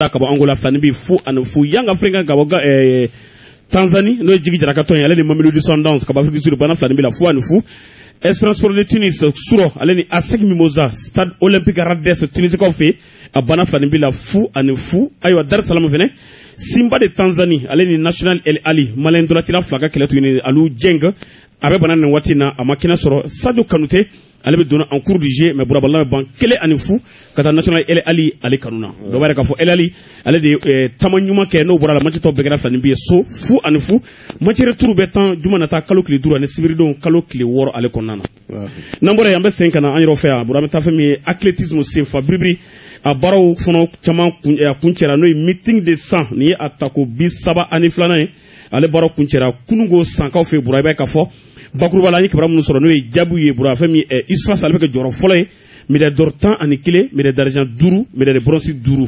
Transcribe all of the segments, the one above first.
la ka bɔ angola filani bi fu ani fu young africans ka bɔ eh, tanzanie n'o ye jigi jara ka tɔn ye ale ni mamelodi sundowns ka bɔ afrique du sud bana filani bi la fu ani fu esperance sport de tunis su rɔ ale ni asec mimosa stade olympique rades tunisikaw fɛ a bana filani bi la fu ani fu ayiwa dar salamu fɛnɛ simba de tanzanie ale ni national el ahly mali ntolacila fila ka kɛlɛ tuguni aliou dieng a bɛ bana nin waati na a ma kɛnɛ sɔrɔ sadio kanute ale bɛ donna en cours du jeu mais bura balɔn bɛ ban kelen ani fu ka taa national el ahly ale kanu na o b'a yira k'a fɔ el ahly ale de ye eh, taama ɲuman kɛ n'o bɔra a la match tɔ bɛɛ kɛra filani bi ye so fu ani fu match retour bɛ tan juma nata kalo tile duuru ani sibiridon kalo tile wɔɔrɔ ale kɔnɔna na n'an bɔra yen an bɛ segin ka na an yɛrɛw fɛ yan bura an bɛ taa fɛn min ye athletisme senfa biribiri a baaraw fana caman kun eh, a kuncɛra n'o ye meeting de san nin ye a tako bi saba ani filanan ye ale baara kuncɛra kununko sankaw fɛ bura i bɛ se k'a fɔ bakuruba la an ye kibaru minnu sɔrɔ n'o ye jaabiw ye bura fɛn min eh, usfas ale bɛ kɛ jɔyɔrɔ fɔlɔ ye médaille d'or tan ani kelen médaille d'argent duuru médaille bronze duuru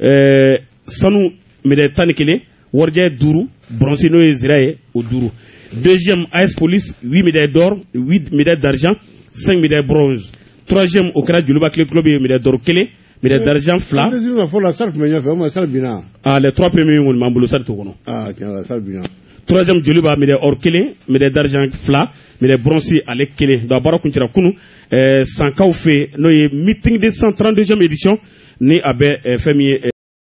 eh, sanu médaille tan ni kelen warijɛ duuru bronze n'o ye zira ye o duuru deuxième as police huit médailles d'or huit médailles d'argent cinq médailles bronze troisième o kɛra joliba athlétic club ye médaille d'or kelen médaille d'argent fila fɔlɔ la stade tun bɛ ɲɛfɛ o ma stade binna ah les trois premiers kɔni b'an bolo stade t'o kɔnɔ stade binna troisième joliba médaille or kelen médaille d'argent fila médaille bronze ale kelen donc a baara kuncɛra kunu eh, sankaw fɛ n'o ye meeting de san 32e édition ni a bɛ eh, fɛn min ye eh,